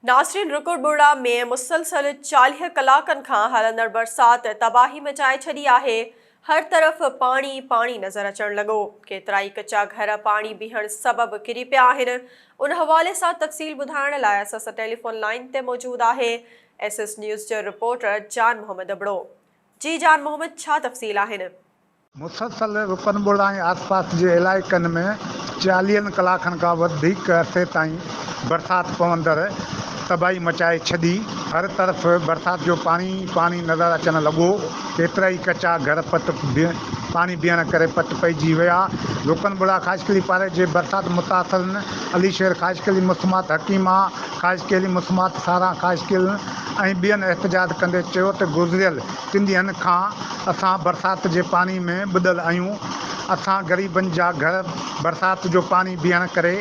ناصرين رڪو ٻوڙا ۾ مسلسل چاليهه ڪلاڪن کان هلندڙ برسات تباهي مچائي ڇڏي آهي، هر طرف پاڻي ئي پاڻي نظر اچڻ لڳو، ڪيترائي ڪچا گهر پاڻي بيهڻ سبب ڪري پيا آهن، ان حوالي سان تفصيل ٻڌائڻ لاء اسان سان ٽيليفون لائين تي موجود آهي ايس ايس نيوز جو رپورٽر جان محمد ابڙو جي جان محمد ڇا تفصيل آهن. مسلسل رڪن ٻوڙا ۽ آسپاس جي علائقن ۾ چاليهن ڪلاڪن کان وڌيڪ عرصي تائين برسات پوندڙ تباهي مچائي ڇڏي، هر طرف برسات جو پاڻي ئي پاڻي نظر اچڻ لڳو، ڪيترائي ڪچا گهر پٽ پاڻي بيهڻ ڪري پٽ پئجي ويا، رڪن ٻوڙا خاصخيلي پاري جي برسات متاثرن علي شير خاصخيلي مسمات حڪيما خاصخيلي مسمات ساران خاصخيلن ۽ ٻين احتجاج ڪندي چيو ته گذريل تن ڏينهن کان اسان برسات جي پاڻي ۾ ٻڏل آهيون، اسان غريبن جا گهر برسات جو پاڻي بيهڻ ڪري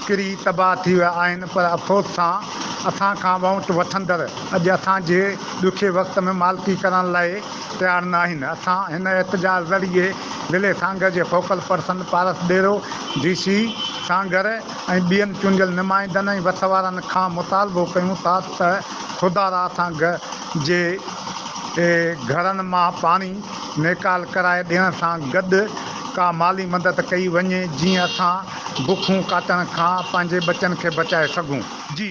ڪري تباهه ٿي ويا آهن پر افسوس سان اسان کان وونٽ وٺندڙ اڄ اسان جي ڏکي وقت ۾ مالڪي ڪرڻ لاء تيار نه آهن، اسان هن احتجاج ذريعي ضلعي سانگهڙ جي focal person Paras Dero, D سي سانگهڙ ۽ ٻين چونڊيل نمائندن ۽ وس وارن کان مطالبو ڪيون ٿا ته. خدا را سانگ جي گهرن مان پاڻي نيڪال ڪرائي ڏيڻ سان گڏ ڪا مالي مدد ڪئي وڃي جيئن اسان بکون ڪاٽڻ کان پنهنجي ٻچن کي بچائي سگهون. جي.